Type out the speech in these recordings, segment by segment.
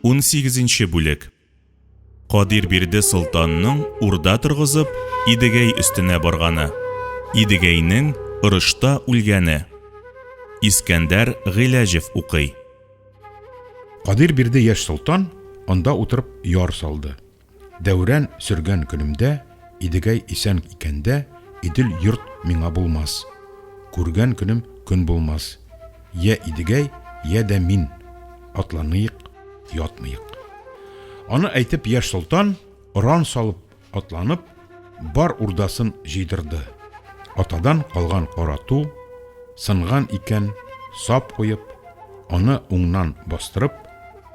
Унсигезенче бүлек Кадир бирде солтанның урда торгызып Идегәй өстенә барганы Идегәйнең орышта үлгәне Искәндәр Гыйләҗев укый Кадир бирде яшь солтан анда утырып яр салды. Дәүран сөргән көнемдә, Идегәй исән икәндә, Идел йорт миңа булмас. Күргән көнем көн булмас. Йә Идегәй, йә дә мин, Атланыйк, ятмыйк. Аны әйтеп, яшь солтан, Оран салып, атланып, Бар урдасын җыйдырды. Атадан калган кара ту, Сынган икән, сап куеп, Аны уңнан бастырып,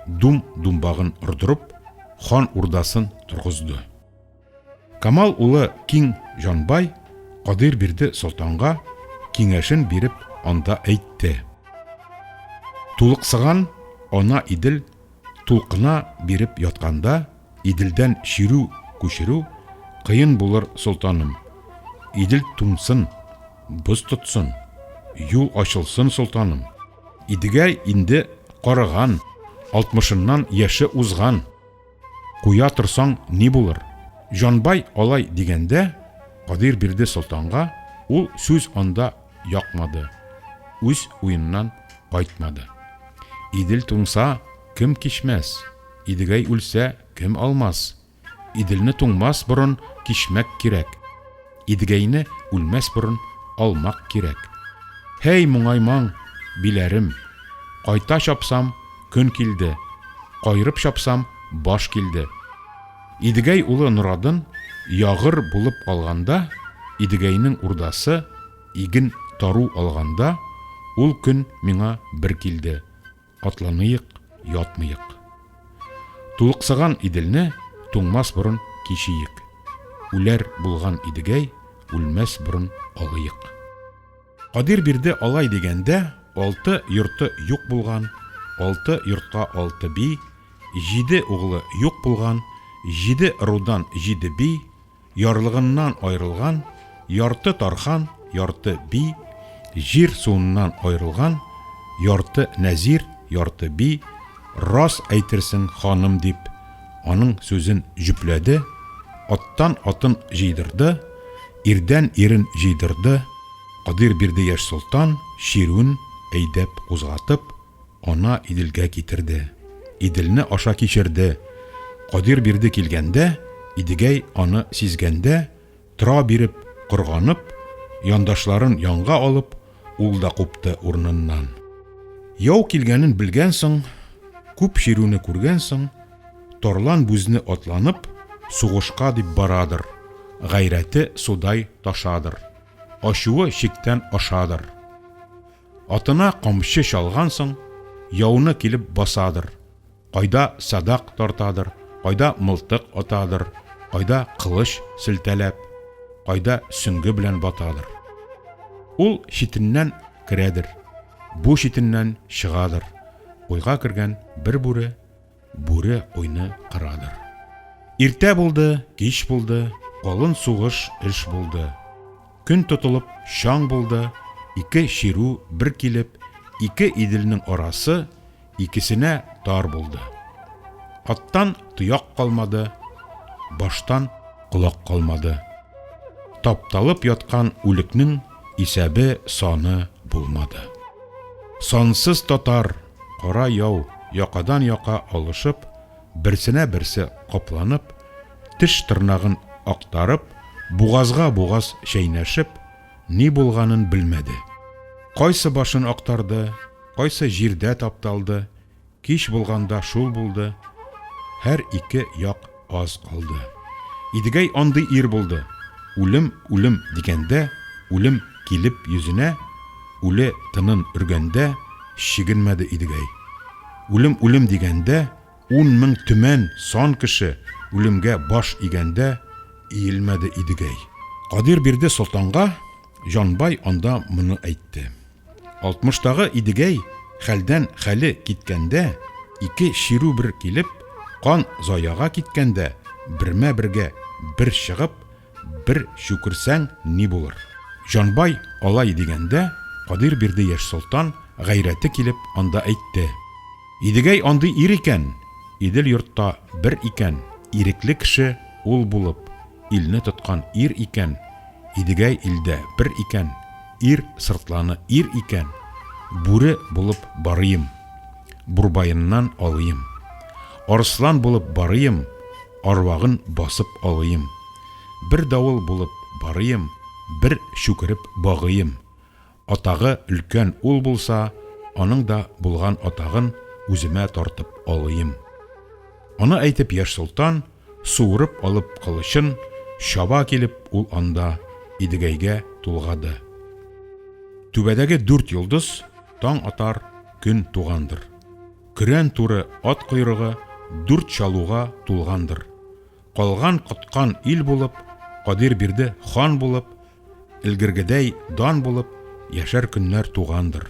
Дум-думбагын ордырып, хан урдасын торгызды. Камал улы Киң Җанбай Кадыйр бирде солтанга киңәшен биреп анда әйтте. Тулыксыган ана Идел тулкына биреп ятканда Иделдән чирү күчерү кыен булыр солтаным. Идел туңсын, боз тотсын, юл ачылсын солтаным. Идегә инде карыган, алтмышыннан яше узган. Куя торсаң, ни булыр? Җанбай алай дигәндә, Кадир бирде солтанга, ул сүз анда якмады, үз уеннан кайтмады. Идел туңса, кем кичмәс? Идегәй үлсә, кем алмас? Иделне туңмас борын кичмәк кирәк, Идегәйне үлмәс борын алмак кирәк. Һәй, моңаймаң, биләрем, Кайта чапсам, көн килде, Кайрып чапсам, баш килде. Идегәй улы Норадын ягыр булып калганда, Идегәйнең урдасы иген тару алганда, Ул көн миңа бер килде. Атланыйк, ятмыйк. Тулыксыган Иделне туңмас борын кичиек. Үләр булган Идегәй үлмәс борын алыйк. Кадир бирде алай дигәндә, алты йорты юк булган, алты йортка алты би, җиде углы юк булган, җиде ырудан җиде би, Ярлыгыннан аерылган, ярты тархан, ярты би, җир суыннан аерылган, ярты нәзир, ярты би, рас әйтерсең, ханым, дип, аның сүзен җөпләде, аттан атын җыйдырды, ирдән ирен җыйдырды, Кадыйрбирдыяшь солтан чирүен әйдәп кузгатып, Ана Иделгә китерде. Иделне аша кичерде. Кадир бирде килгәндә, Идегәй аны сизгәндә, Тора биреп, корганып, Яндашларын янга алып, Ул да купты урыныннан. Яу килгәнен белгән соң, Күп чирүне күргән соң, Тарлан бүзне атланып, Сугышка дип барадыр. Гайрәте судай ташадыр. Ачуы чиктән ашадыр. Атына камчы чалган соң, яуны килеп басадыр, кайда садак тартадыр, кайда мылтык атадыр, кайда кылыч селтәләп, кайда сөнге белән батадыр. Ул читеннән керәдер, бу читеннән чыгадыр, уйга кергән бер бүре, Бүре уйны кырадыр. Иртә булды, кич булды, калын сугыш эш булды. Көн тотылып, чаң булды, ике чирү бер килеп, ике Иделнең арасы икесенә тар булды. Аттан тояк калмады, баштан колак калмады. Тапталып яткан үлекнең исәбе-саны булмады. Сансыз татар, кара яу якадан-яка алышып, берсенә-берсе капланып, теш-тырнагын актарып, бугазга-бугаз чәйнәшеп, ни булганын белмәде. Кайсы башын актарды, кайсы җирдә тапталды, кич булганда шул булды, һәр ике як Аз калды. Идегәй андый ир булды. Үлем, үлем дигәндә, үлем килеп йөзенә, үле тынын өргәндә, чигенмәде Идегәй. Үлем, үлем дигәндә, ун мең төмән сан кеше үлемгә баш игәндә, иелмәде Идегәй. Кадир бирде солтанга, Җанбай анда моны әйтте. Алтмыштагы Идегәй хәлдән хәле киткәндә, ике чирү бер килеп, кан заяга киткәндә, бермә-бергә бер чыгып, бер чүкерсәң ни булыр? Җанбай алай дигәндә, Кадыйрбирде яшь солтан, гайрәте килеп, анда әйтте. Идегәй андый ир икән, Идел-йортта бер икән, ирекле кеше ул булып, илне тоткан ир икән, Идегәй илдә бер икән, Ир сыртланы ир икән, Бүре булып барыйм, Бурбаеннан алыйм. Арыслан булып барыйм, Арвагын басып алыйм. Бер давыл булып барыйм, Бер чүкереп багыйм. Атагы өлкән ул булса, Аның да булган атагын Үземә тартып алыйм. Аны әйтеп яшь солтан, суырып алып кылычын чаба килеп ул анда Идегәйгә тулгады. Түбәдәге дүрт йолдыз таң атар көн тугандыр. Көрән туры ат койрыгы дүрт чалуга тулгандыр. Калган коткан ил булып, Кадирбирде хан булып, элгергедәй дан булып яшәр көннәр тугандыр.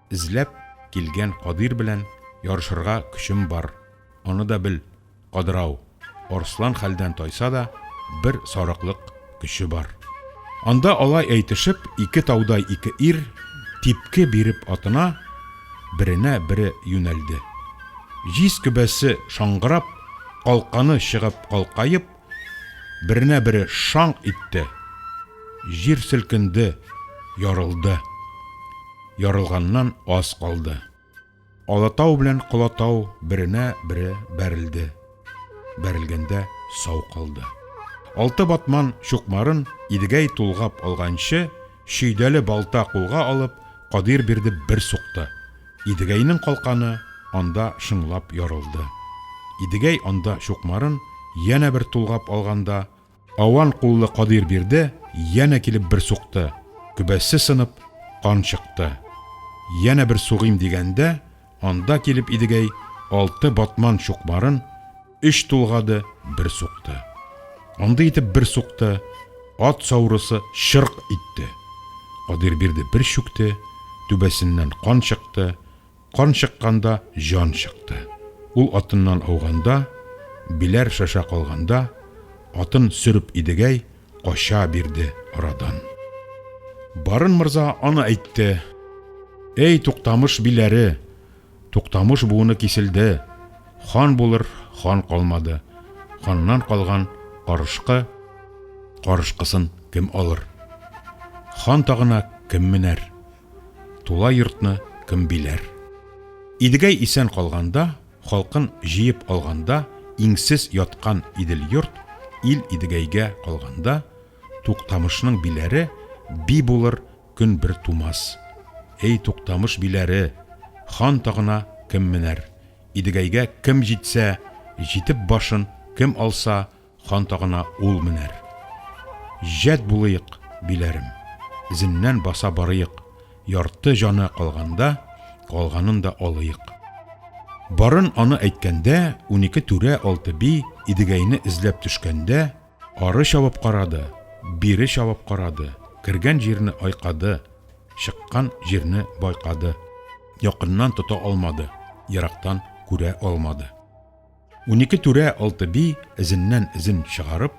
Эзләп килгән Кадир белән ярышырга көчем бар, аны да бел, Кадрау, арслан хәлдән тайса да, бер сарыклык көче бар. Анда алай әйтешеп, ике таудай ике ир, типке биреп атына, беренә бере юнәлде. Җиз көбәсе шаңгырап, калканы чыгып калкаеп, Беренә бере шаңк итте. Җир селкенде, ярылды. Ярылганнан аз калды. Алатау белән Колатау беренә бере бәрелде. Бәрелгәндә сау калды. Алты батман чукмарын Идегәй тулгап алганчы, Чөйдәле балта кулга алып, Кадыйр бирде бер сукты. Идегәйнең калканы анда шыңлап ярылды. Идегәй анда чукмарын янә бер тулгап алганда, аван куллы Кадыйр бирде янә килеп бер сукты, көбәсе сынып, кан чыкты. Янә бер сугыйм дигәндә, Анда килеп Идегәй алты батман чукмарын өч тулгады, бер сукты. Андый итеп бер сукты, ат саурысы чырк итте. Кадирбирде бер чүкте, түбәсеннән кан чыкты, кан чыкканда җан чыкты. Ул атыннан ауганда, биләр шаша калганда, атын сөреп Идегәй кача бирде арадан. Барын морза аны әйтте. Эй, Туктамыш биләре, Туктамыш буыны киселде, хан булыр хан калмады. Ханнан калган карышкы, карышкысын кем алыр? Хан тагына кем менәр? Тула йортны кем биләр? Идегәй исән калганда, Халкын җыеп алганда, Иңсез яткан Идел-йорт, Ил Идегәйгә калганда, Туктамышның биләре Би булыр көн бер тумас. Эй, Туктамыш биләре, Хан тагына кем менәр? Идегәйгә кем җитсә, Җитеп башын кем алса, Хан тагына ул менәр. Җәд булыйк, биләрем. Зеннән баса барыйк. Ярты җаны калганда, Калганын да алыйк. Барын аны әйткәндә, Унике түрә, алты би, Идегәйне эзләп төшкәндә, Ары чабып карады, Бире чабып карады, Кергән җирне айкады, Чыккан җирне байкады. Якыннан тота алмады, Ерактан күрә алмады. Унике түрә алты би эзеннән эзен чыгарып,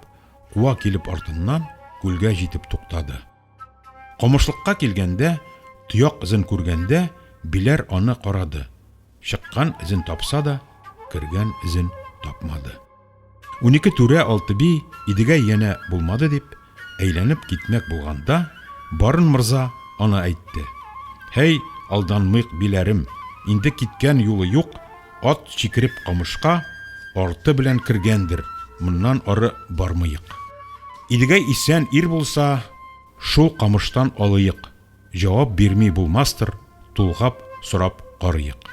куа килеп артыннан күлгә җитеп туктады. Комышлыкка килгәндә, тояк эзен күргәндә, биләр аны карады. Чыккан эзен тапса да, кергән эзен тапмады. Унике түрә алты би Идегәй янә булмады дип, Әйләнеп китмәк булганда, Барын морза аны әйтте. Һәй, алданмыйк, биләрем, инде киткән юлы юк, ат чикереп камышка, арты белән кергәндер, моннан ары бармыйк. Идегәй исән ир булса, шул камыштан алыйк. Җавап бирми булмастыр, тулгап сорап карыйк.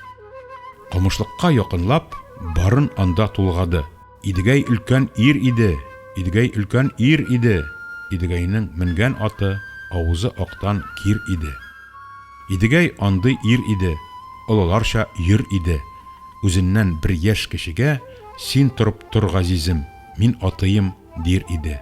Камышлыкка якынлап, барын анда тулгады. Идегәй өлкән ир иде, Идегәй өлкән ир иде, Идегәйнең менгән аты, авызы актан кир иде. Идегәй андый ир иде, олыларча йөр иде. Үзеннән бер яшь кечегә, Син торып тор, газизем, мин атыйм, дир иде.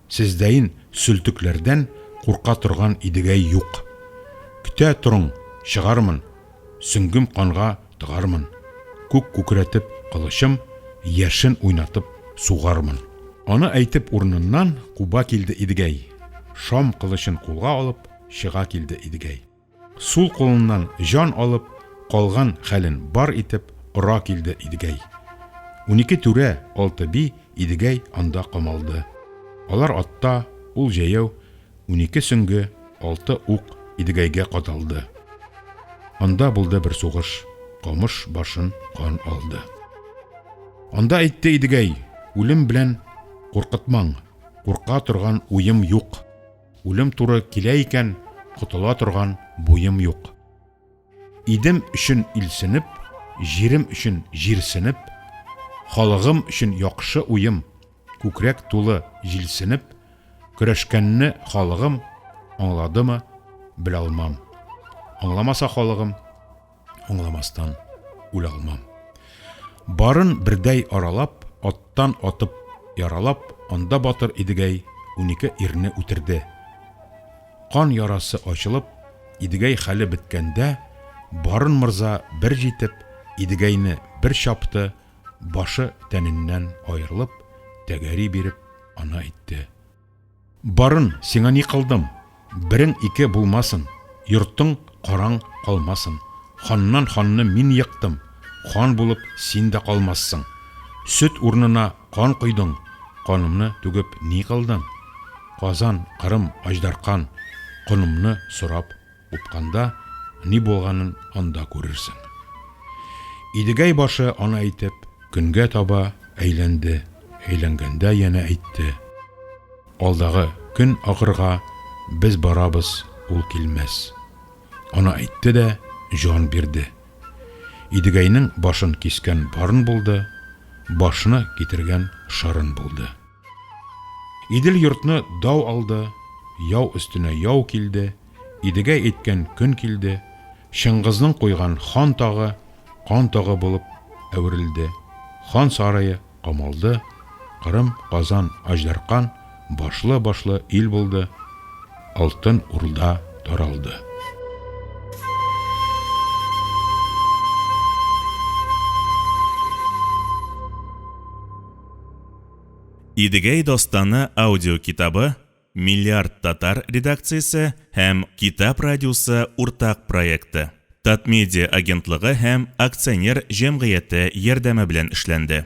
Сездәен сөлтекләрдән курка торган Идегәй юк. Көтә торың, чыгармын, сөңгем канга тыгармын, күк күкрәтеп кылычым яшен уйнатып сугармын. Аны әйтеп урыныннан куба килде Идегәй, шам кылычын кулга алып чыга килде Идегәй. Сул кулыннан җан алып, калган хәлен бар итеп ора килде Идегәй. Унике түрә, алты би, Идегәй анда камалды. Алар атта, ул җәяү, унике сөнге, алты ук Идегәйгә кадалды. Анда булды бер сугыш, камыш башын кан алды. Анда әйтте Идегәй, Үлем белән куркытмаң, курка торган уем юк. Үлем туры килә икән, котыла торган буем юк. Идем өчен илсенеп, җирем өчен җирсенеп, халыгым өчен яхшы уем, күкрәк тулы җилсенеп, көрәшкәнне халыгым аңладымы, белалмам. Аңламаса халыгым, Аңламастан үлә алмам. Барын бердәй аралап, аттан атып, яралап, анда батыр Идегәй унике ирне үтерде. Кан ярасы ачылып, Идегәй хәле беткәндә, Барын морза бер җитеп, Идегәйне бер чапты, башы тәненнән аерылып, тәгәри биреп, ана итте. Барын, сиңа ни кылдым? Берең ике булмасын, Йортың караң калмасын. Ханнан ханны мин йыктым, Хан булып син дә калмассың. Сөт урнына кан койдың, Канымны түгеп ни кылдың? Казан, Кырым, Аҗдаркан, Конымны сорап Упканда ни булганын анда күрерсең. Идегәй башы аны әйтеп, көнгә таба әйләнде, әйләнгәндә янә әйтте, Алдагы көн ахырга без барабыз, ул килмәс. Аны әйтте дә җан бирде. Идегәйнең башын кискән барын булды, башны китергән шарын булды. Идел-йортны дау алды, яу өстенә яу килде. Идегәй әйткән көн килде, Чыңгызның куйган хан тагы кан тогы булып әверелде, хан сарае камалды, Кырым, Казан, Аҗдаркан башлы-башлы ил булды, Алтын Урда таралды. Идегәй дастаны аудиокитабы Миллиард татар редакциясе һәм Китап радиосы уртак проекты, Татмедиа агентлыгы һәм акционер җәмгыяте ярдәме белән эшләнде.